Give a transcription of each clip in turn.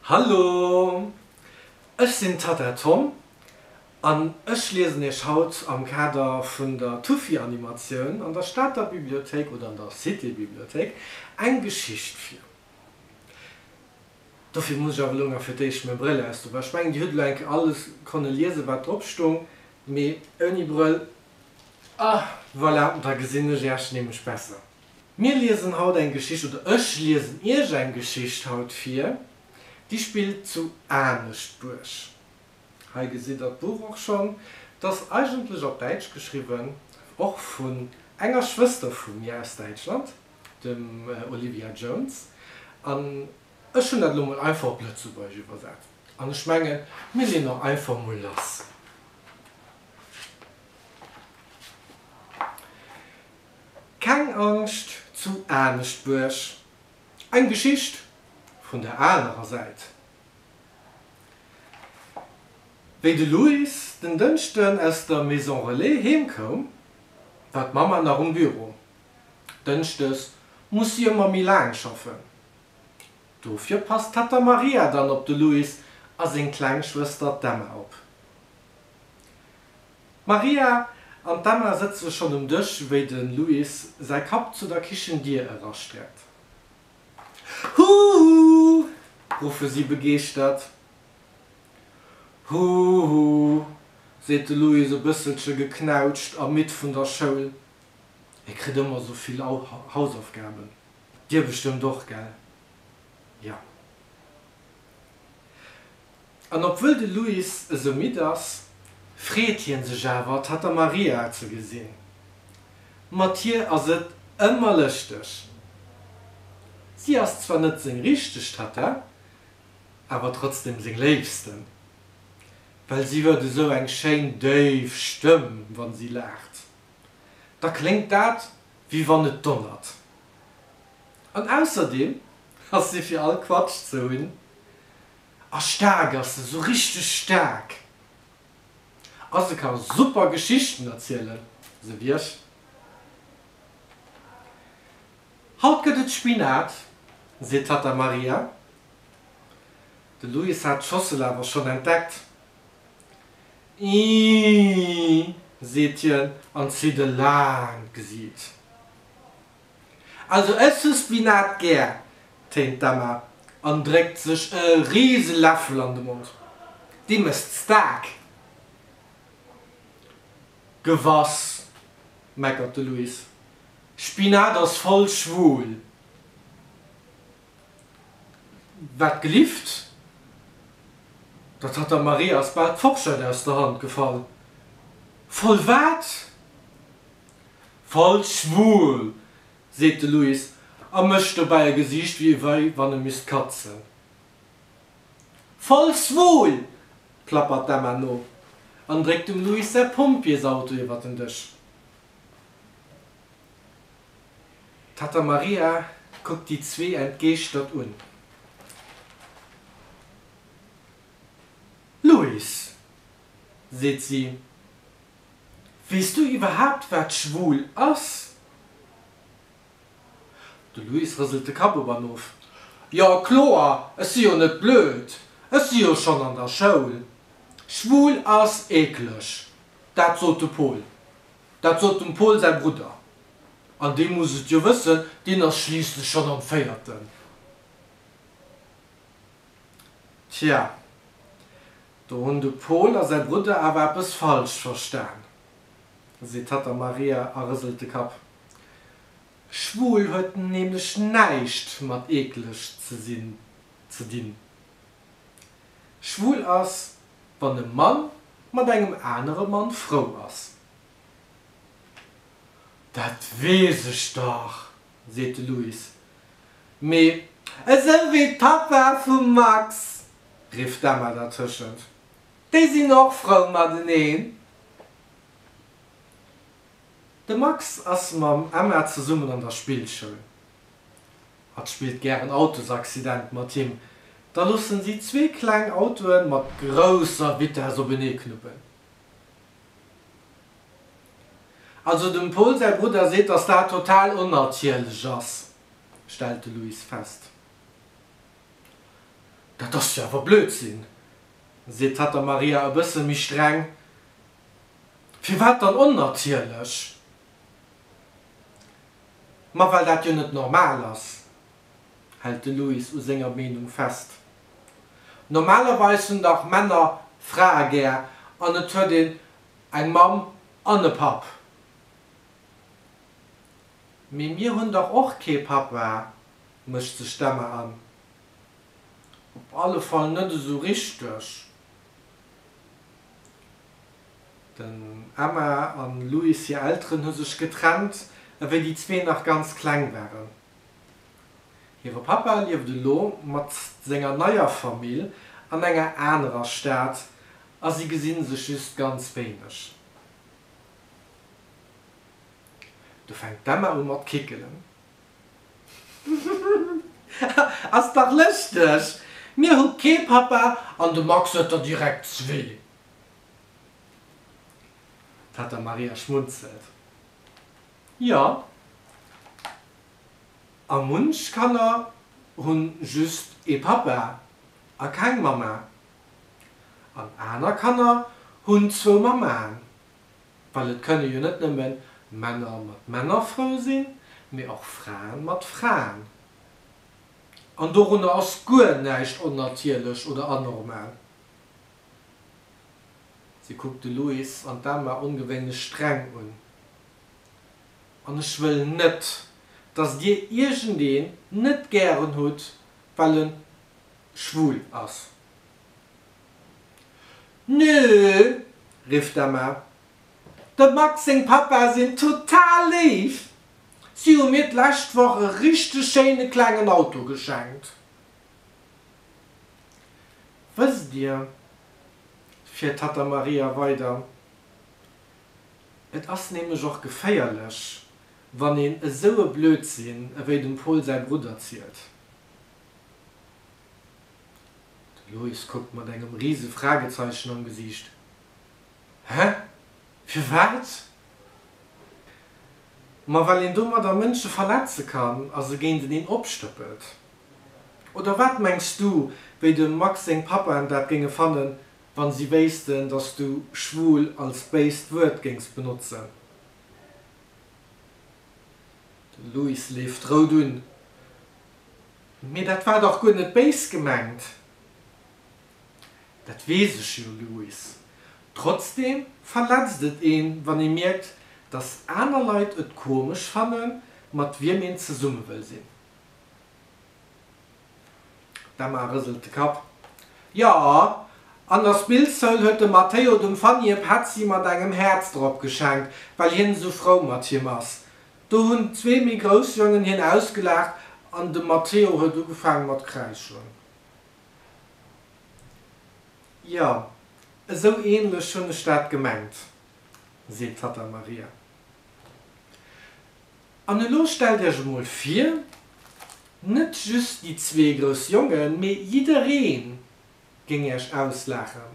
Hallo! Ech sinn Tata Tom an ech liesen iech haut am Kader vun der Tufi-Animatioun an der Stater Bibliothéik oder an der Cité-Bibliothéik eng Geschicht vir. Dofir muss ech awer elo nach fir d'éischt meng Brëll aus do bauen. Ech mengen dir hutt elo eng Kéier alles konne liesen, wat drop stoung, mee ouni Brëll, ah, voilà, da gesinn ech iech nämlech besser. Mir liesen haut eng Geschicht, oder ech liesen Iech eng Geschicht haut vir, déi spillt zu Aneschtbuerg. Hei gesitt Der d'Buch och schonn. Et ass eigentlech op Däitsch geschriwwen, och vun enger Schwëster vu mir aus Däitschland, dem Olivia Jones, an ech hunn dat elo mol einfach op Lëtzebuergesch iwwersat. An ech mengen, mir leeën och einfach mol lass. Keng Angscht zu Aneschtbuerg, eng Geschicht vun der anerer Säit. Wéi de Louis den Dënschden aus der Maison Relais heem koum, war d'Mamma nach um Büro. Dënschdes muss si ëmmer méi laang schaffen. Dofir passt d'Tatta Maria dann op de Louis a seng kleng Schwëster d'Emma op. D'Maria an d'Emma sëtze schonn um Dësch, wéi de Luis säi Kapp zu der Kichendier erastreckt. Huhu! ruffe si begeeschtert. Huhu! seet de Luis e bësselche geknautscht a midd vun der Schoul. E kritt ëmmer esou vill Hausaufgaben. Dir bestëmmt och, gell? Jo. An obwuel de Luis esou midd ass, freet hie sech awer, d'Tatta Maria ze gesinn. Mat hir ass et ëmmer lëschteg. Si ass zwar net seng richteg Tatta, awer trotzdeem seng léifsten, well si huet esou eng schéin déif Stëmm, wa si laacht, da kléngt dat, wéi wann et donnert. An ausserdeem ass si fir all Quatsch ze hunn. A staark ass se, sou richteg staark. A se ka super Geschichten erzielen, sou wéi ech. Haut gëtt et Spinat, seet d'Tatta Maria. De Luis hat d'Schossel awer schonn entdeckt. Ii, seet hien an zitt e laangt Gesiit. Also ech hu Spinat gär, téint d'Emma an dréckt sech e riise Läffel an de Mond. Di mësst staark. Gewass, meckert de Luis, Spinat ass voll schwul. Wat gelift, dat hat der Marie ass bal d'Forschett aus der Hand gefall. Voll wat? Falsch schwul! seet de Louis a mécht dobäi e Gesiicht wéi wann e misst katzen. Falsch schwul! plappert d'Emma no an dréckt dem Louis säi Pompjeesauto iwwer den Dësch. D'Tatta Maria kuckt déi zwee entgeeschtert un. Louis! seet si. Weess du iwwerhaapt wat schwul ass? De Luis rëselt de Kapp op an of, Jo kloer, ech si jo net blöd, ech si jo schonn an der Schoul. Schwul ass eekleg, dat sot de Pol. Dat sot dem Pol säi Brudder. An dee muss et jo wëssen, deen ass schliisslech schonn am Véierten. Tja, do hunn de Pol a säi Brudder awer eppes falsch verstan, seet d'Tatta Maria a rëselt de Kapp. Schwul huet nämlech näischt mat eekleg ze sinn ze dinn. Schwul ass, wann e Mann mat engem anere Mann frou ass. Dat weess ech dach! seet de Louis. Mee esou wéi d'Papa vum Max! rifft d'Emma dertëschent. Déi sinn och frou mateneen. De Max ass mam Emma zesummen an der Spillschoul. Hatt spillt gären Autosaccident mat him. Da loossen si zwee kleng Autoe mat grousser Vitess openee knuppen. Also dem Paul säi Brudder seet, datt dat total onnatierlech ass, stellt de Luis fest. Dat ass jo awer Blödsinn, seet d'Tatta Maria e bësse méi streng. Firwat dann onnatierlech? Ma well dat jo net normal ass, hält de Louis u senger Meenung fest. Normalerweis hunn dach Männer Frae gär an et huet een eng Mamm an e Papp. Mee mir hunn dach och kee Papa, mëscht sech d'Emma an. Op alle Fall net esou richteg. Den Emma a Louis hir Elteren hu sech getrennt, ewéi déi zwee nach ganz kleng waren. Hire Pappa lieft elo mat senger neier Famill an enger anerer Stad a si gesi sech just ganz wéineg. Do fänkt d'Emma u mat kickelen. Ass dach lëschteg! Mir hu kee Pappa an de Max huet der direkt zwee. D'Tatta Maria schmunzelt. Jo, a munch Kanner hu just ee Pappa a keng Mamma. An aner Kanner hunn zwou Mammaen, well et kënne jo net nëmme Männer mat Männer frou sinn, mee och Fraen mat Fraen. An dorunner ass guer näischt onnatierlech oder anormal. Se kuckt de Louis an d'Emma ongewéinlech streng un. An ech wëll net, dass dir iergendeen net gären hutt, well en schwul ass. Nö! rifft d'Emma. Dem Max seng Papa sinn total léif. Si hu mir d'lescht Woch e richteg schéine klengen Auto geschenkt. Wësst dir, fiert d'Tatta Maria weider, Et ass nämlech och geféierlech, wann een esou e Blödsinn ewéi dem Pol säi Brudder zielt. De Loïs kuckt mat engem rise Fragezeichen am Gesiicht, Hä? Firwat? Ma well een domadder Mënsche verletze kann a se géinteneen opstëppelt. Oder wat mengs du, wéi dem Max seng Papaen dat géinge fannen, wann si wéissten dass du schwul als béist Wuert géings benotzen. De Louis leeft rout un, Mee dat war dach guer net béis gemengt. Dat weess ech jo Louis, trotzdem verletzt et een wann ee mierkt dass aner Leit et komesch fannen mat wiem een zesumme wëll sinn. D'Emma rëselt de Kapp. Jo, an der Spillschoul huet de Matteo dem Fanny e Petzi mat engem Häerz drop geschenkt, well hien esou frou mat him ass. Do hunn zwee méi grouss Jongen hien ausgelaacht an de Matteo huet ugefaange mat kräischen. Jo, esou änlech hunn ech dat gemengt, seet d'Tatta Maria. An elo stellt iech emol vir, net just déi zwee grouss Jongen, mee jidderee géing iech auslaachen,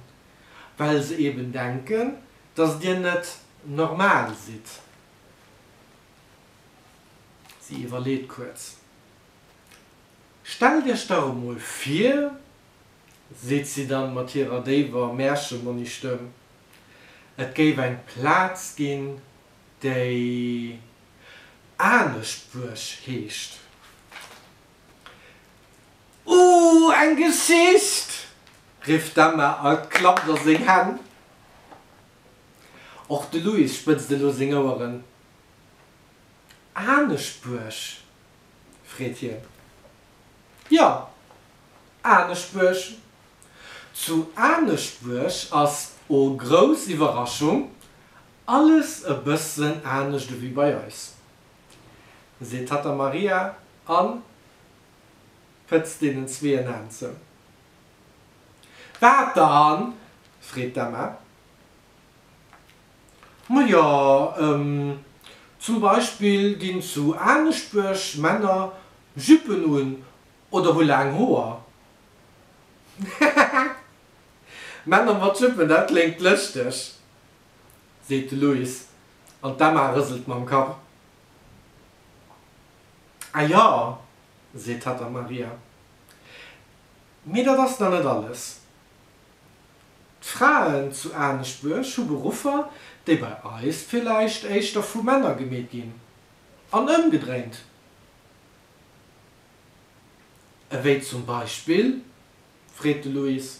well se eben denken, dass dir net normal sidd. Si iwwerleet kuerz. Stellt iech dach emol vir, seet si dann mat hirer déiwer Märchemonistëmm, et géif eng Plaz ginn, déi anescht Buerg heescht. Ooh, eng Geschicht! rifft d'Emma a klappt a seng Hänn. Och de Louis spëtzt elo seng Oueren. Anescht Buerg? freet hien. Jo, anescht Buerg. Zu Aneschtbuerg ass, oh grouss Iwwerraschung, Alles e bëssen anescht ewéi bei eis, seet d'Tatta Maria a pëtzt deenen zwee en Aan zou. Wat dann? freet d'Emma. Ma jo, zum Beispill ginn zu Aneschbuerg Männer Jüppen un oder hu laang Hoer. Männer mat Jüppen, dat kléngt lëschteg, seet de Luis an d'Emma rëselt mam Kapp. A jo, seet d'Tatta Maria, mee dat ass nach net alles. D'Fraen zu Aneschbuerg hu Beruffer, déi bei eis villäicht éischter vu Männer gemeet ginn, an ëmgedréint, ewéi zum Beispill? freet de Luis.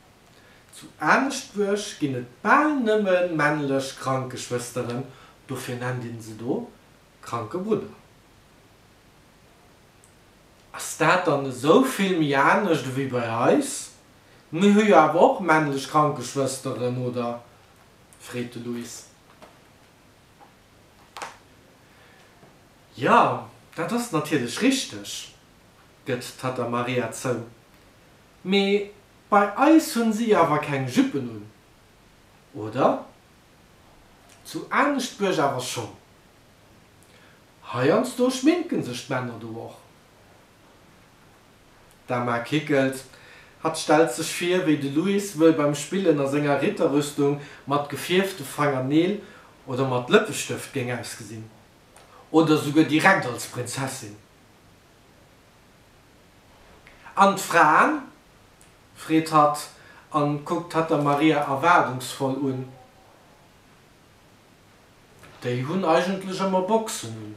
Zu Aneschtbuerg ginn et bal nëmme männlech Krankeschwësteren, dofir nennt een se do Krankebrudder. Ass dat dann esou vill méi anescht ewéi bei eis? Mir hu jo awer och männlech Krankeschwësteren, oder? freet de Luis. Jo, dat ass natierlech richteg, gëtt d'Tata Maria zou. Mee bei eis hunn si awer keng Juppen un, oder? Zu Aneschtbuerg awer schonn. Heiansdo schminken sech d'Männer do och. D'Emma kickelt. Hatt stellt sech vir, wéi de Louis wëll beim Spillen a senger Ritterrüstung mat gefierfte Fangerneel oder mat Lëppestëft géing ausgesinn. Oder souguer direkt als Prinzessin. An d'Fraen? freet hatt a kuckt hatt der Maria erwaardungsvoll un. Déi hunn eigentlech ëmmer Boxen un.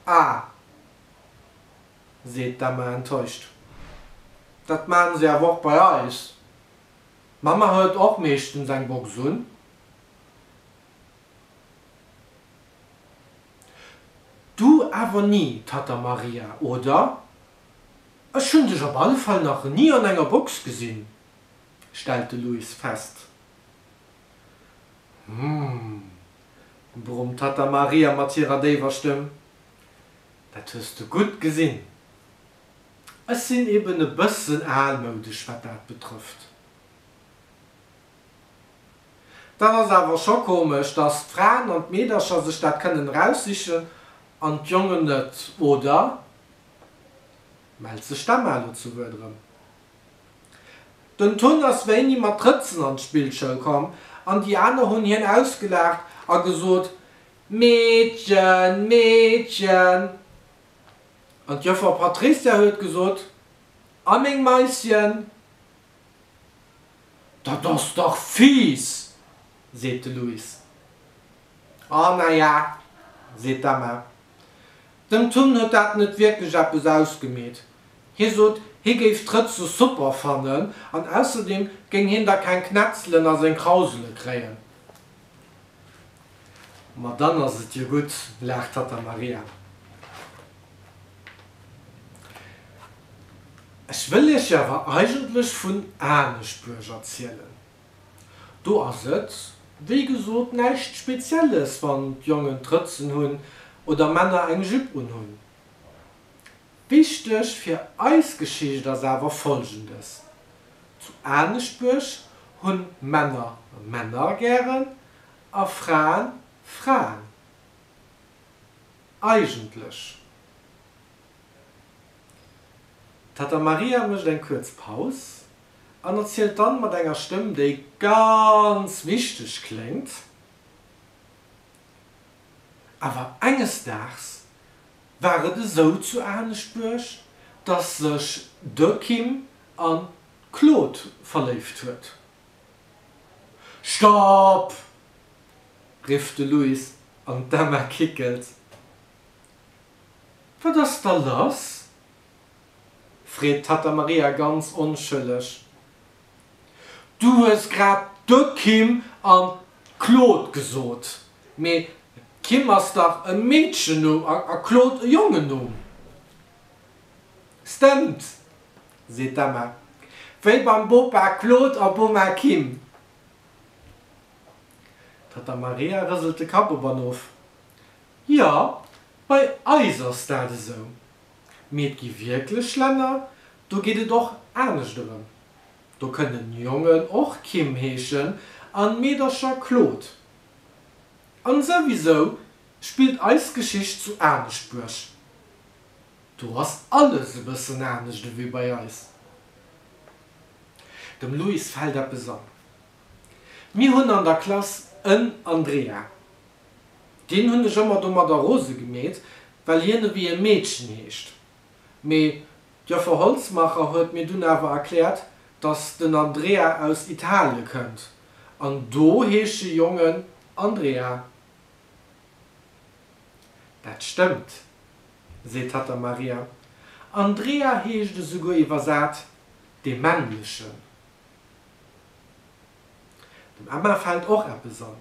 Ah, seet d'Emma enttäuscht. Dat maachen se awer och bei eis. D'Mamma huet och meeschtens eng Box un. Du awer ni, Tatta Maria, oder? Ech hunn dech op alle Fall nach ni an enger Box gesinn, stellt de Luis fest. Humm, brummt d'Tatta Maria mat hirer déiwer Stëmm, dat hues de gutt gesinn. Ech sinn eben e bëssen almoudesch, wat dat betrëfft. Dat ass awer scho komesch, dass d'Fraen an d'Meedercher sech dat kënnen eraussichen an d'Jongen net, oder? Mellt sech d'Emma elo zu Wuert erëm. Den Ton ass wéini mat Drëtzen an d'Spillschoul komm an déi aner hunn hien ausgelaacht a gesot, Meedchen, Meedchen! An d'Joffer Patrizia huet gesot, A meng Maischen? Dat ass dach fies! seet de Louis. A naja, seet d'Emma, dem Tun huet dat net wierklech eppes ausgemeet. Hie sot, hie géif d'Rëtze super fannen an ausserdeem géing hien da keng Knetzelen a seng Krausele kréien. Ma dann ass et jo gutt, laacht d'Tatta Maria. Ech wëll Iech jo awer eigentlech vun Aneschbuerg erzielen. Do ass et, wéi gesot, näischt Spezielles, wann d'Jongen Trëtzen hunn oder Männer eng Jupe unhunn. Wichteg fir eis Geschicht ass awer Folgendes, Zu Aneschbuerg hunn Männer Männer gären A Fraen, Fraen. Eigentlech. D'Tatta Maria mécht eng kuerz Paus an erzielt dann mat enger Stëmm, déi ganz wichteg kléngt, Awer enges Daags war et esou zu Aneschbuerg, dass sech de Kim an d'Claude verléift huet. Stopp! rifft de Louis an d'Emma kickelt. Wat ass da lass? freet d'Tatta Maria ganz onschëlleg. Du hues grad de Kim an d'Claude gesot, mee Kim ass dach e Meedchennumm a Claude e Jongennumm. Stemmt! seet d'Emma. Wéi beim Bopa Claude a Boma Kim. D'Tatta Maria rëselt de Kapp op an of. Jo, bei eis ass dat esou. Mee et gi wierklech Länner, do geet et och anescht erëm. Do kënnen Jongen och Kim heeschen an Meedercher Claude. An souwisou spillt eis Geschicht zu Aneschtbuerg. Do ass alles e bëssen anescht ewéi bei eis. Dem Luis fält eppes an, Mir hunn an der Klass en Andrea. Deen hunn ech ëmmer domadder rose gemeet, well hien ewéi e Meedchen heescht. Mee d'Joffer Holzmacher huet mir dunn awer erkläert, datt den Andrea aus Italie kënnt an do heesche Jongen Andrea. Dat stëmmt. seet hatt der Maria. Andrea heescht esouguer iwwersat dee Männlechen. Dem Emma fält och eppes an.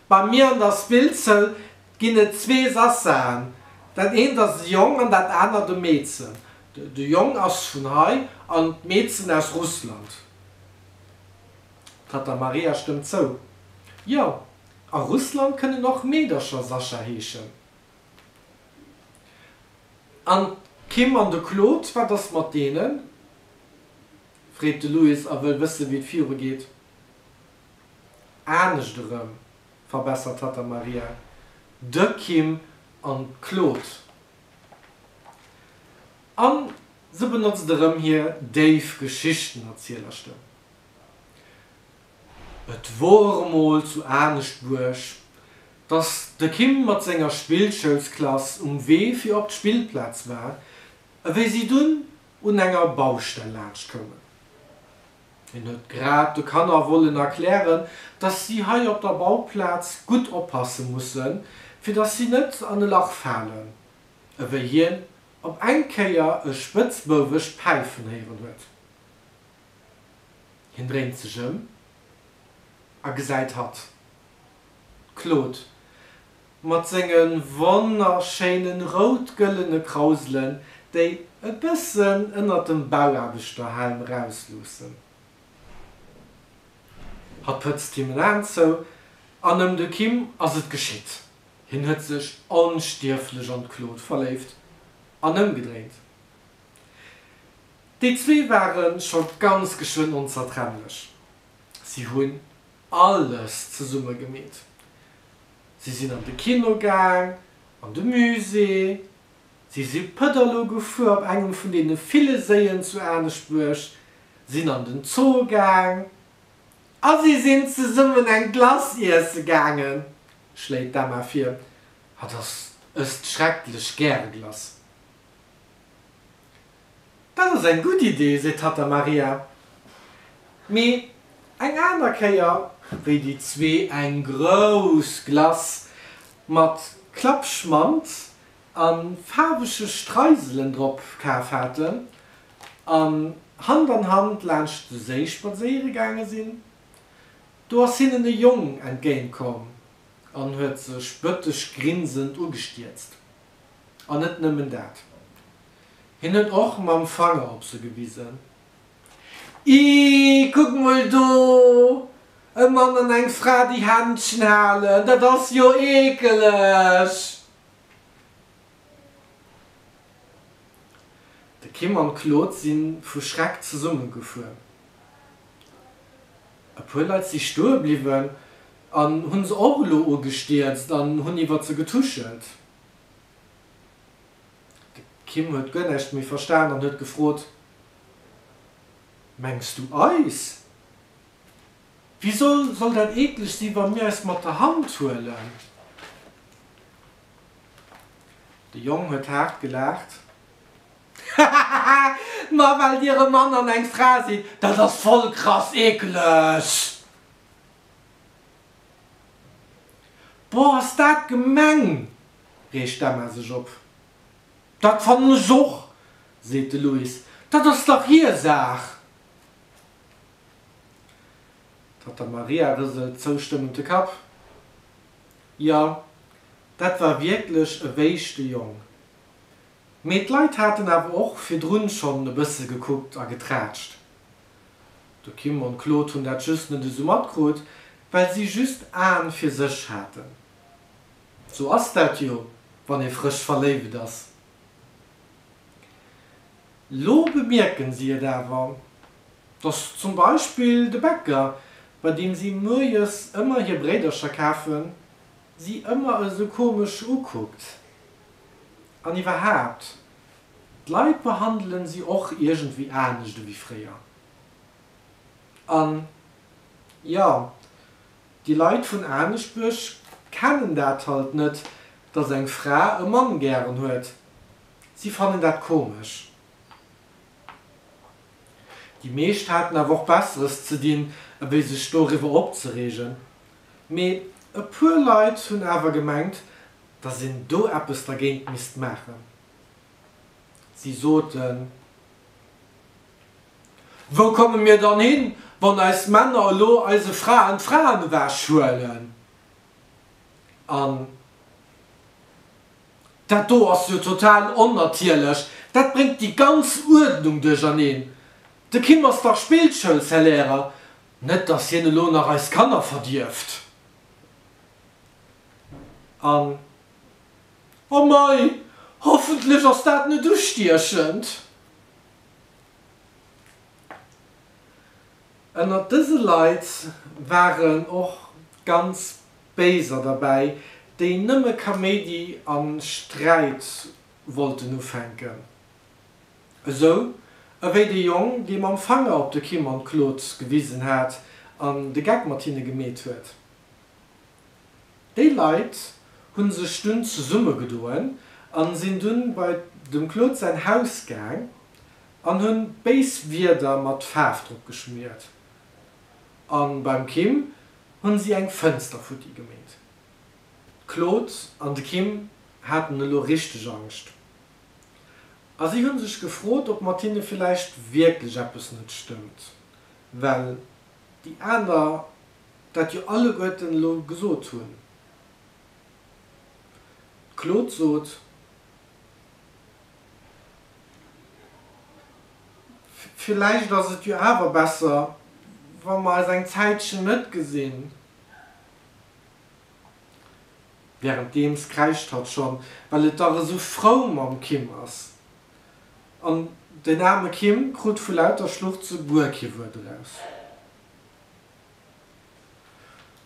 Bei mir an der Spillzëll ginn et zwee Sassaen. Dat eent ass e Jong an dat anert e Meedchen. De Jong ass vun hei an d'Meedchen aus Russland. D'Tatta Maria stëmmt zou, Jo, a Russland kënnen och Meedercher Sascha heeschen. An d'Kim an de Claude, wat ass mat deenen? freet de Louis a wëll wëssen, wéi et viru geet. Anescht erëm, verbessert d'Tatta Maria, de Kim an d'Claude. A se benotzt erëm hir déif Geschichtenerzielerstëmm. Et wor emol zu Aneschtbuerg, dass de Kim mat senger Spillschoulsklass um Wee fir op d'Spillplaz war, ewéi si dunn un enger Baustell laanscht koumen. Hien huet grad de Kanner wollen erklären, dass si hei op der Bauplaz gutt oppasse mussen, fir dass si net an e Lach falen, ewéi hien op eng Kéier e spëtzbouwesch Päifen héieren huet. Hien dréint sech ëm a gesäit hatt d'Claude mat senge wonnerschéine rout-gëllene Krauselen, déi e bëssen ënnert dem Bauaarbechterhelm rausluussen. Hatt pëtzt him en Aen zou an ëm de Kim ass et geschitt, hien huet sech onstierflech an d'Claude verléift an ëmgedréint. Déi zwee ware scho ganz geschwënn onzertrennlech. Si hunn alles zesumme gemeet. Si sinn an de Kino gaang, an de Musée, si si Pëtterlo gefuer op engem vun deene ville Séien zu Aneschtbuerg, sinn an den Zoo gaang a si sinn zesummen eng Glace iesse gaangen, schléit d'Emma vir. Hatt ass ësst schrecklech gäre Glace. Dat ass eng gutt Idee, seet hatt der Maria. Mee eng aner Kéier, wéi déi zwee eng grouss Glace mat Klappschmant a faarwege Streiselen drop kaf haten an Hand an Hand laanscht de Séi spadséiere gaange sinn, do ass hinnen e Jong entgéint komm an huet sech bëteg grinsend ugestierzt. An net nëmmen dat, hien huet och mam Fanger op se gewisen, Ih, kuck mol do, e Mann an eng Fra déi Händchen halen, dat ass jo eekeleg! De Kim an d'Claude si vu Schreck zesummegefuer. E puer Leit si stoe bliwwen, An hunn se och elo ugestierzt an hunn iwwert se getuschelt. De Kim huet guer näischt méi verstan an huet gefrot, Mengs du eis? Wisou soll dat eeklech si wa mir eis mat der Hand huelen? De Jong huet haart gelaacht, Hahaha, ma well dir e Mann an eng Fra sidd, dat ass voll krass eeklech! Boah, ass dat gemeng! reegt d'Emma sech op. Dat fannen ech och! seet de Louis. Dat ass dach hir Saach! D'Tata Maria rëselt zoustëmmend de Kapp. Jo, dat war wierklech e wéischte Jong. Mee d'Leit haten awer och virdrun schonn e bësse gekuckt a geträtscht. De Kim an d'Claude hunn dat just net esou matkrut, well si just Aen fir sech haten. Sou ass dat jo, wann ee frësch verléiwt ass. Lo bemierken si et awer, dass zum Beispill de Bäcker, bei deem si muerjes ëmmer hir Bréidercher kafen, si ëmmer esou komesch ukuckt. An iwwerhaapt, D'Leit behandelen si och iergendwéi anescht ewéi fréier. An jo, déi Leit vun Aneschbuerg kennen dat halt net, dass eng Fra e Mann gären huet. Si fannen dat komesch. Déi meescht haten awer och Besseres ze dinn, ewéi sech doriwwer opzereegen. Mee e puer Leit hunn awer gemengt, dass een do eppes dergéint misst maachen. Si soten, Wou komme mir dann hin, wann eis Männer elo eise Fraen d'Fraen ewechhuelen? An dat do ass jo total onnatierlech, dat bréngt déi ganz Uerdnung duercherneen. De Kim ass dach Spillschoulsailärer, net datt hien elo nach eis Kanner verdierft. An Oh mei, hoffentlech ass dat net ustiechend. Ënnert dëse Leit waren och ganz Béiser derbäi, déi nëmme Kaméidi a Sträit wollten ufänken. Esou ewéi de Jong, dee mam Fanger op de Kim an d'Claude gewisen hat an de Geck mat hinne gemeet huet. Déi Leit hunn sech dunn zesumme gedoen an sinn dunn bei dem Claude säin Haus gaang an hunn béis Wierder mat Faarf drop geschmiert an beim Kim hunn si eng Fënster futti gemeet. D'Claude an de Kim haten elo richteg Angscht a si hunn sech gefrot op mat hinne villäicht wierklech eppes net stëmmt well déi aner dat jo alleguerten elo gesot hunn, d'Claude sot, villäicht ass et jo awer besser, wa mer eis eng Zäitchen net gesinn, wärenddeems kräischt hatt schonn, well et dach esou frou mam Kim ass. an den aarme Kim krut vu lauter Schluchze guer kee Wuert eraus.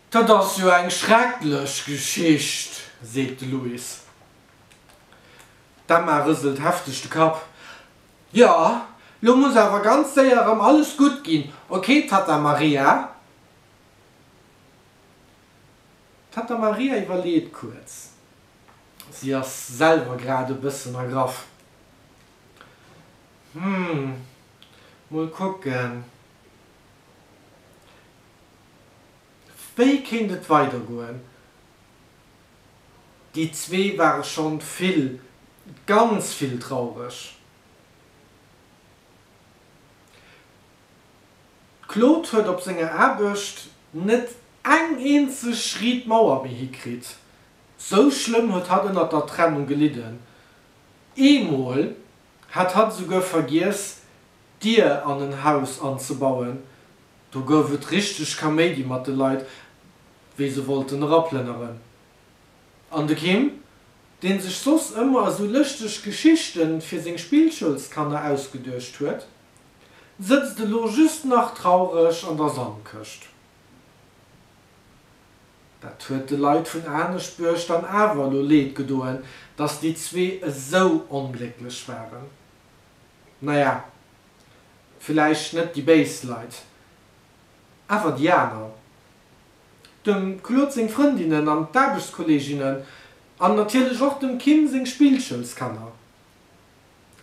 Dat ass jo eng schrecklech Geschicht, seet de Louis. D'Emma rëselt hefteg de Kapp. Jo, lo muss awer ganz séier erëm alles gutt ginn, ok, Tatta Maria? D'Tatta Maria iwwerleet kuerz. Si ass selwer grad e bëssen ergraff. Hm, mol kucken, wéi kéint et weidergoen? Déi zwee ware schonn vill, ganz vill traureg. D'Claude huet op senger Aarbecht net eng eenzeg riit Mauer méi hikritt. Sou schlëmm huet hatt ënnert der Trennung gelidden, eemol hat hatt esouguer vergiess d'Dier an en Haus anzebauen. Do gouf et richteg Kaméidi mat de Leit, wéi se wollten eraplënneren. An de Kim, dee sech soss ëmmer esou lëschteg Geschichte fir seng Spillschoulskanner ausgeduecht huet, sëtzt elo just nach traureg an der Sandkëscht. Dat huet de Leit vun Aneschbuerg dann awer elo Leed gedoen, datt déi zwee esou onglécklech waren. Naja, villäicht net déi béis Leit, awer déi aner. Dem Claude seng Frëndinnen an d'Aarbechtskolleeginnen an natierlech och dem Kim seng Spillschoulskanner.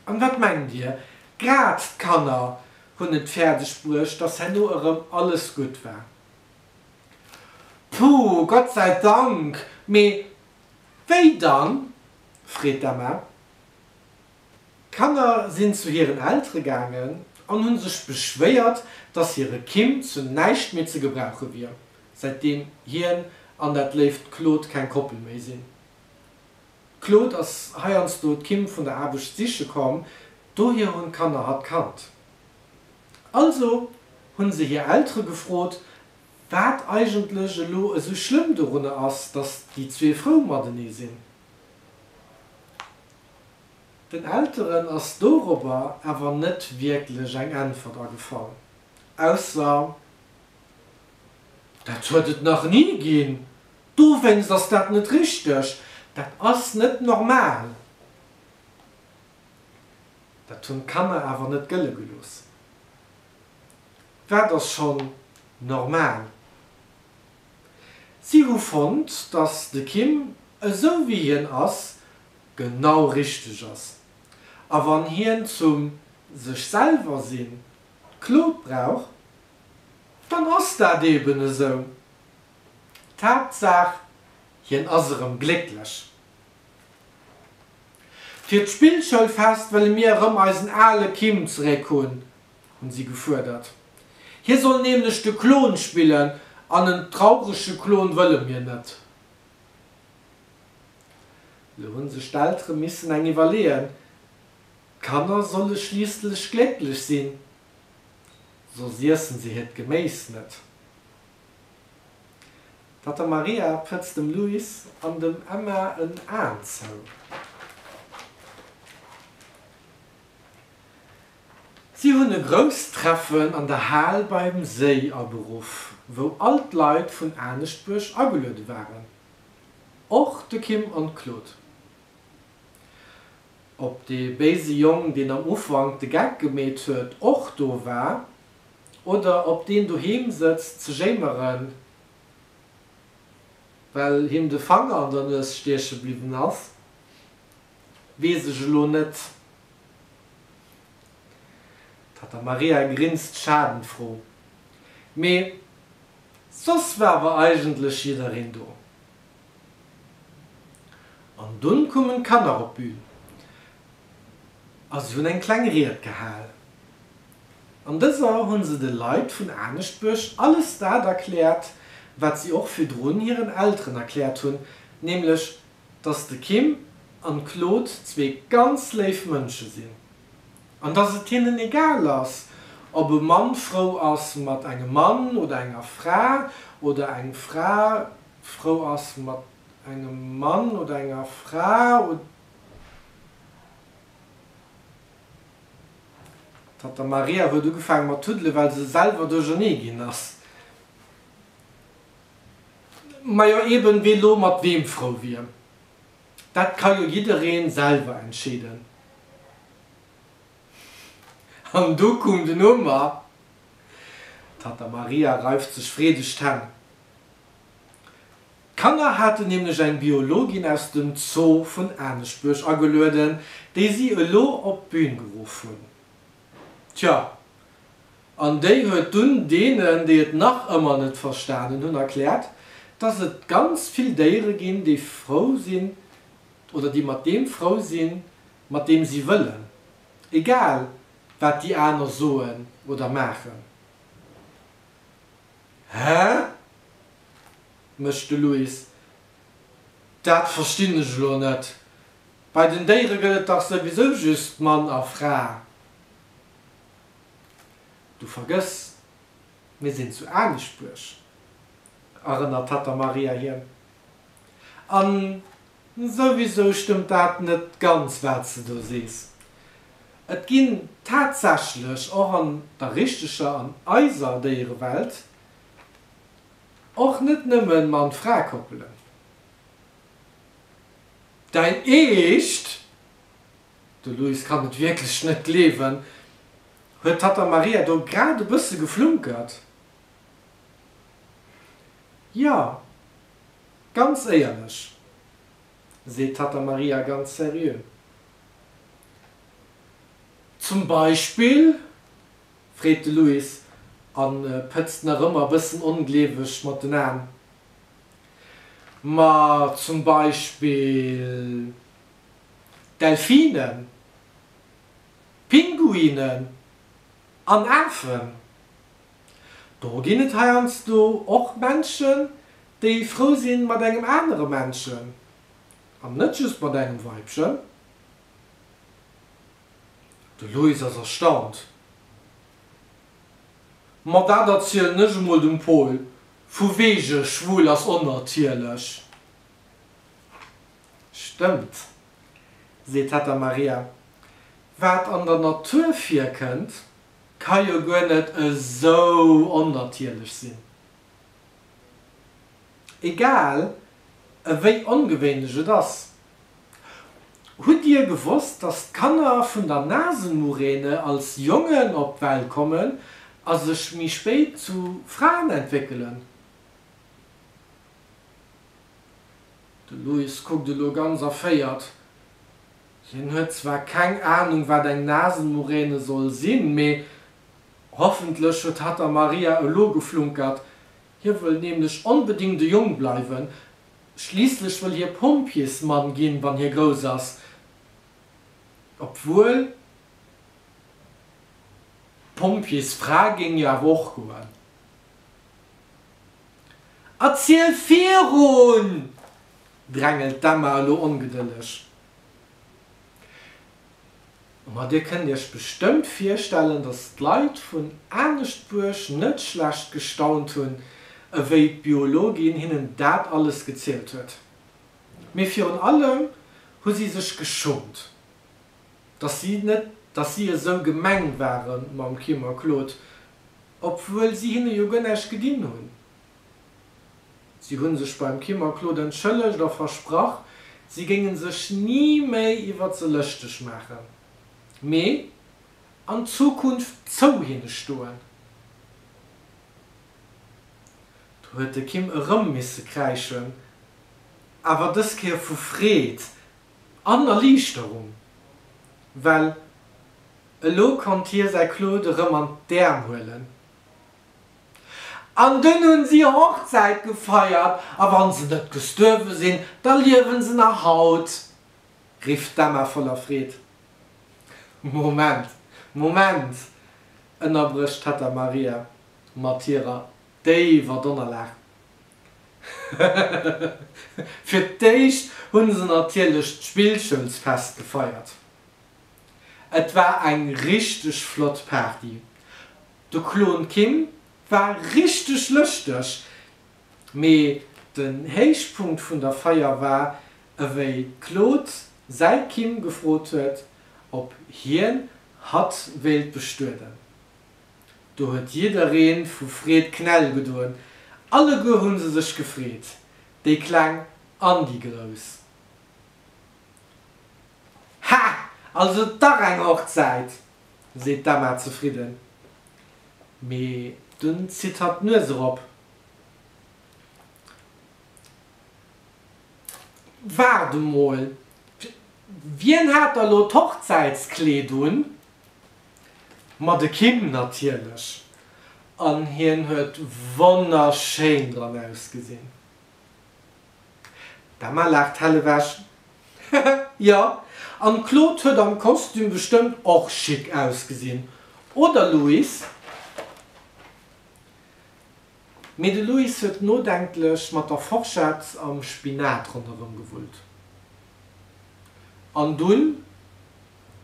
An wat mengt Dir, grad d'Kanner hunn et fäerdeg bruecht, datt herno erëm alles gutt war. Puh, Gott sei Dank! Mee wéi dann? freet d'Emma. D'Kanner sinn zu hiren Eltere gaangen an hu sech beschwéiert, dass hire Kim zu näischt méi ze gebrauche wier, säitdeem hien an dat léift Claude keng Koppel méi sinn. D'Claude ass heiansdo d'Kim vun der Aarbecht siche komm, dohier hunn d'Kanner hatt kannt. Also hunn se hir Eltere gefrot, wat eigentlech elo esou schlëmm dorunner ass, datt déi zwee frou matenee sinn. Den Elteren ass dorobber awer net wierklech eng Äntwert agefall, ausser, Dat huet et nach ni ginn, dowéinst ass dat net richteg, dat ass net normal. Dat hunn d'Kanner awer net gëlle gelooss. Wat ass schonn normal? Si hu fonnt, datt de Kim esou wéi hien ass genau richteg ass, a wann hien zum sech selwer sinn d'Claude brauch, dann ass dat eben esou. D'Haaptsaach hien ass erëm glécklech. Fir d'Spillschoulfest wëlle mir erëm eisen ale Kim zeréck hunn, hunn si gefuerdert. Hie soll nämlech de Klon spillen an en traurege Klon wëlle mir net. Elo hu sech d'Eltere missen eng iwwerleeën, d'Kanner solle schliisslech glécklech sinn, soss iesse se hiert Geméis net. Datt der Maria prëtzt dem Luis an dem Emma en Aen zou. Si hunn e grousst Treffen an der Hal beim Séi aberuff, wou all d'Leit vun Aneschtbuerg ageluede waren, och de Kim an d'Claude. Ob dee béise Jong, deen am Ufank de Geck gemeet huet, och do war, Oder ob deen doheem sëtzt ze jéimeren, well him de Fanger an der Nues stieche bliwwen ass, weess ech elo net. D'Tatta Maria grinst schadenfro. Mee soss war awer eigentlech jiddereen do. An dunn kommen d'Kanner op d'Bühn. a si hunn eng kleng Ried gehal. An dëser hunn se de Leit vun Aneschtbuerg alles dat erkläert, wat si och virdrun hiren Elteren erkläert hunn, nämlech dass de Kim an d'Claude zwee ganz léif Mënsche sinn an dass et hinnen egal ass, ob e Mann frou ass mat engem Mann oder enger Fra oder eng Fra frou ass mat engem Mann oder enger Fra. D'Tata Maria huet ugefaange mat tuddelen, well se selwer duerchernee ginn ass. Majo eben, wee lo mat weem frou wier, dat ka jo jiddereen selwer entscheeden. An do koom den Omer. D'Tata Maria reift sech freedeg d'Hänn. D'Kanner haten nämlech eng Biologin aus dem Zoo vun Aneschtbuerg agelueden, déi si elo op d'Bün geruff hunn. Tjo, an déi huet dunn deenen, déi et nach ëmmer net verstanen hunn, erkläert, dass et ganz vill Déiere ginn, déi frou sinn oder déi mat deem frou sinn, mat deem si wëllen, egal wat déi aner soen oder maachen. Hä? mécht de Louis. Dat verstinn ech elo net. Bei den Déiere gëtt et dach souwisou just Mann a Fra. Du vergëss, mir sinn zu Anisbuerg, erënnert d'Tatta Maria hien. An Souwisou stëmmt dat net ganz wat s de do sees. Et ginn tatsächlech och an der richteger, an eiser Déierewelt, och net nëmme Mann-Fra-Koppelen. Däin Eescht, de Luis kann et wierklech net gleewen, huet d'Tatta Maria do grad e bësse geflunkert, jo. Ganz éierlech, seet d'Tatta Maria ganz seriö. Zum Beispill? freet de Luis a pëtzt nach ëmmer e bëssen ongleeweg mat den Aen. Ma zum Beispill Delfinen, Pinguinen an Afen, Do ginn et heiansdo och Menschen, déi frou si mat engem anere Menschen, an net just mat engem Weibchen. De Loïs ass erstaunt. Ma dat erzielen ech emol dem Paul, vu wege schwul ass onnatierlech. Stëmmt, seet d'Hetta Maria, wat an der Natur virkënnt. Ka jo guer net esou onnatierlech sinn. Egal ewéi ongewéinlech et ass, hutt Dir gewosst, dass d'Kanner vun der Nasenmuräne als Jongen op d'Welt kommen a sech méi spéit zu Fraen entwéckelen? De Louis kuckt elo ganz erféiert. Hien huet zwar keng Ahnung wat eng Nasenmuräne soll sinn, mee hoffentlech huet hatt der Maria elo geflunkert. Hie wëll nämlech onbedingt e Jong bleiwen, schliisslech wëll hie Pompjeesmann ginn, wann hie grouss ass. Obwuel, Pompjeesfra géing jo awer och goen. Erziel virun! drängelt d'Emma elo ongedëlleg. Ma dir kënnt iech bestëmmt virstellen, datt d'Leit vun Aneschtbuerg net schlecht gestaunt hunn, ewéi d'Biologin hinnen dat alles gezielt huet. Mee virun allem hu si sech geschummt, datt si net, datt si esou gemeng ware mam Kim a Claude, obwuel si hinne jo guer näischt gedinn hunn. Si hunn sech beim Kim a Claude entschëllegt a versprach, si géingen sech ni méi iwwert se lëschteg maachen, mee an Zukunft zou hinne stoen. Do huet de Kim erëm misse kräischen, awer dës Kéier vu Freed an Erliichterung, well elo konnt hie säi Claude erëm an d'Äerm huelen. An dunn hunn si Hochzäit gefeiert, a wann se net gestuerwe sinn, da liewen se nach haut! rifft d'Emma voller Freed. Moment, Moment! ënnerbrécht d'Tatta Maria mat hirer déiwer Donnerlag. Fir d'éischt hu se natierlech d'Spillschoulsfest gefeiert. Et war eng richteg flott Party, De Klon Kim war richteg lëschteg, mee den Héichpunkt vun der Feier war, ewéi d'Claude säi Kim gefrot huet, ob hien hatt wéilt bestueden. Do huet jidderee vu Freed Knäll gedoen, alleguer hu se sech gefreet, déi Kleng an déi Grouss. Hah! Also dach eng Hochzäit! seet d'Emma zefridden, mee dunn zitt hatt d'Nues erop. Waart emol, wien hat da lo d'Hochzäitskleed un? Ma de Kim natierlech, an hien huet wonnerschéin dran ausgesinn. D'Emma laacht hell ewech, Hehe, jo. An d'Claude huet am Kostüm bestëmmt och chic ausgesinn, oder Louis? Mee de Louis huet nodenklech mat der Forschett am Spinat ronderëm gewullt. An dunn?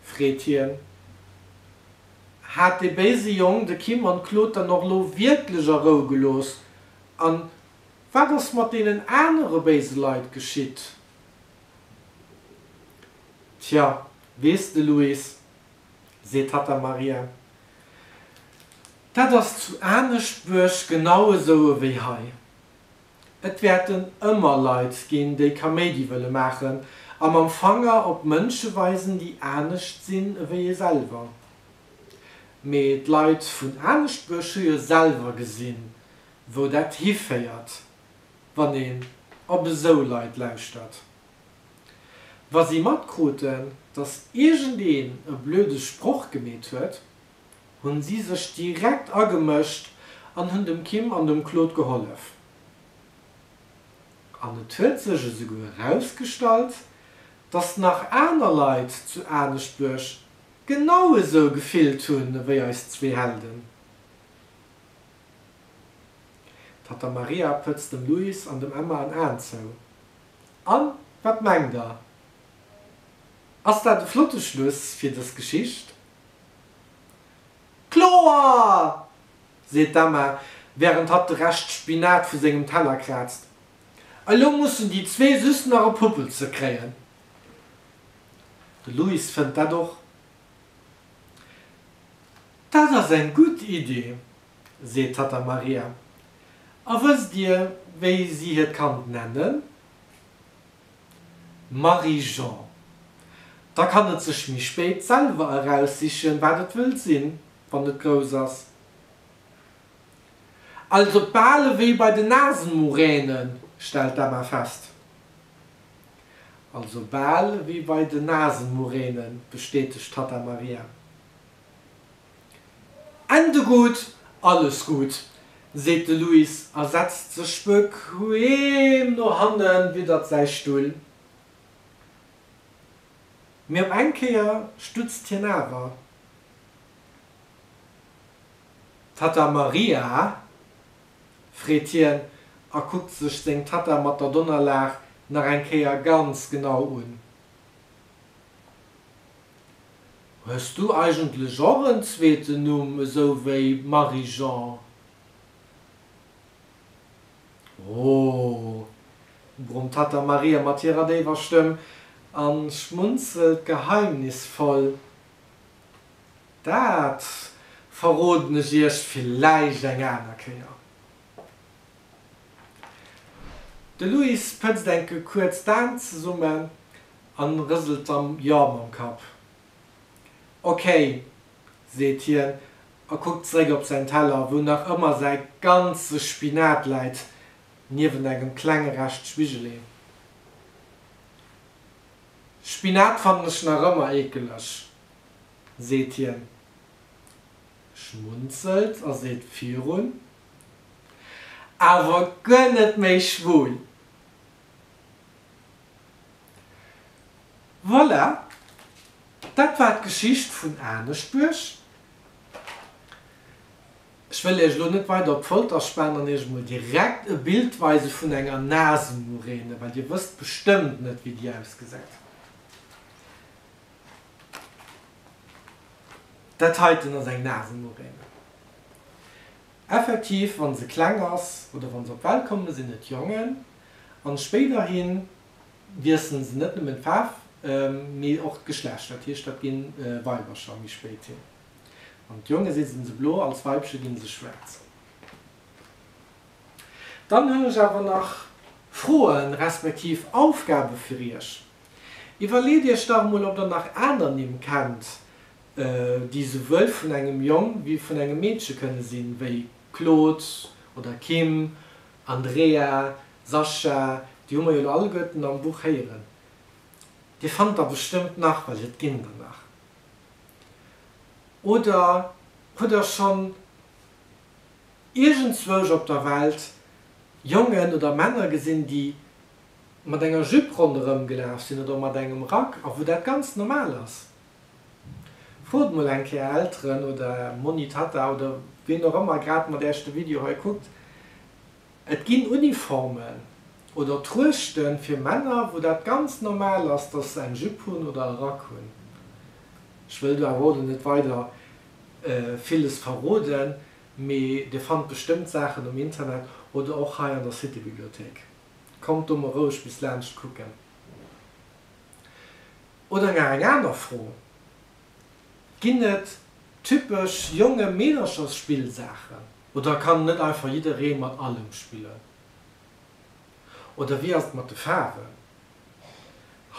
freet hien. Hat dee béise Jong de Kim an d'Claude dann och lo wierklech a Rou gelooss? An Wat ass mat deenen anere béise Leit geschitt? Tja, weess de Luis, seet d'Tata Maria, dat ass zu Aneschtbuerg genau esou ewéi hei. Et wäerten ëmmer Leit ginn, déi Kaméidi wëlle maachen a mam Fanger op Mënsche weisen, déi anescht sinn ewéi ee selwer. Mee d'Leit vun Aneschtbuerg hu jo selwer gesinn, wou dat hiféiert, wann een op esou Leit lauschtert. Wa si matkruten, datt iergendeen e blöde Sproch gemeet huet, hu si sech direkt agemëscht an hunn dem Kim an dem Claude gehollef. An et huet sech esouguer erausgestallt, datt nach aner Leit zu Aneschtbuerg genau esou gefillt hunn ewéi eis zwee Helden. D'Tata Maria pëtzt dem Luis an dem Emma en Aen zou. An, wat mengt der? Ass dat e flotte Schluss fir dës Geschicht? Kloer! seet d'Emma, wärend hatt de Rescht Spinat vu sengem Teller kraazt. Elo mussen déi zwee just nach e Puppel ze kréien. De Luis fënnt dat och. Dat ass eng gutt Iddi, seet d'Tatta Maria. A wësst Dir, wéi si hiert Kand nennen? Marie-Jean. Da kann et sech méi spéit selwer eraussichen, wat et wëll sinn, wann et grouss ass. Also bal ewéi bei den Nasenmuränen, stellt d'Emma fest. Also bal ewéi bei den Nasenmuränen, bestätegt d'Tatta Maria. Ende gutt, alles gutt, seet de Louis a setzt sech bequeem no hannen, widdert säi Stull. Mee op eng Kéier stutzt hien awer. D'Tatta Maria? freet hien a kuckt sech seng Tatta mat der Donnerlag nach eng Kéier ganz genau un. Hues du eigentlech och en zweeten Numm esou wéi Marie-Jean? Ooh! brummt hatt der Maria mat hirer déiwer Stëmm an schmunzelt geheimnisvoll. Dat verroden ech iech villäicht eng aner Kéier. De Louis pëtzt enke kuerz d'Aen zesummen a rëselt dann Jo mam Kapp. Okay, seet hien a kuckt zeréck op säin Teller, wou nach ëmmer säi ganze Spinat läit, niewent engem klenge Rescht Spigelee. Spinat fannen ech nach ëmmer eekeleg, seet hien, schmunzelt a seet virun. Awer guer net méi schwul. Voilà, dat war d'Geschicht vun Aneschbuerg. Ech wëll iech elo net weider op d'Folter spanen an iech emol direkt e Bild weise vun enger Nasenmuräne, well dir wësst bestëmmt net, wéi déi ausgesäit. Dat heiten ass eng Nasenmuräne. Effektiv, wann se kleng ass oder wann se op d'Welt kommen, sinn et Jongen. An spéiderhi wiesselen se net nëmmen d'Faarf, mee och d'Geschlecht. Dat heescht, dat ginn Weibercher méi spéit hin. Als Jonge sinn se blo, als Weibche ginn se schwaarz. Dann hunn ech awer nach Froen, respektiv Aufgaben fir iech. Iwwerleet iech dach emol ob der nach aner Nimm kennt déi souwuel vun engem Jong wéi vun engem Meedche kënne sinn, wéi Claude oder Kim, Andrea, Sascha, déi hu mer jo elo alleguerten am Buch héieren. Dir fannt der bestëmmt nach, well et ginn der nach. Oder hutt der schonn iergendzwousch op der Welt Jongen oder Männer gesinn déi. mat enger Jupe ronderëm gelaf sinn oder mat engem Rack a wou dat ganz normal ass. Frot mol eng Kéier Elteren oder Monni, Tatta oder wien och ëmmer grad mat Äech de Video hei kuckt. Et ginn Uniformen oder Truechte fir Männer, wou dat ganz normal ass, dass se eng Jupe hunn oder e Rack hunn. Ech wëll do awer och elo net weider villes verroden, mee Dir fannt bestëmmt Saachen um Internet oder och hei an der City-Bibliothéik. Kommt do mol roueg bis laanscht kucken. Oder nach eng aner Fro, Ginn et typesch jonge Meederchersspillsaachen oder kann net einfach jidderee mat allem spillen? Oder wéi ass et mat de Faarwen?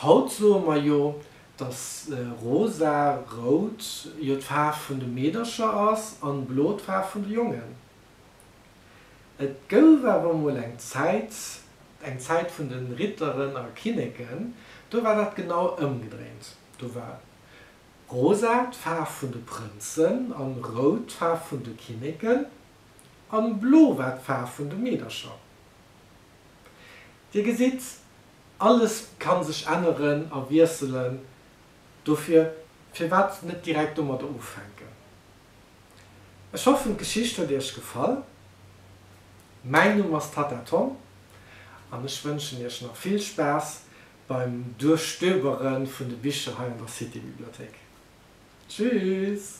Haut soe mer jo, dass rosa, rout, jo d'Faarf vun de Meedercher ass an blo d'Faarf vun de Jongen. Et gouf awer emol eng Zäit, eng Zäit vun de Ritteren a Kinneken, do war dat genau ëmgedréint. Do war rosa d'Faarf vun de Prënzen an rout d'Faarf vun de Kinneken an blo war d'Faarf vun de Meedercher. Dir gesitt, alles kann sech änneren a wiesselen, dofir firwat net direkt domadder ufänken? Ech hoffen d'Geschicht huet iech gefall. Mäin Numm ass Tatta Tom an ech wënschen iech nach vill Spaass beim Duerchstöbere vun de Bicher hei an der City-Bibliothéik. Tschüss!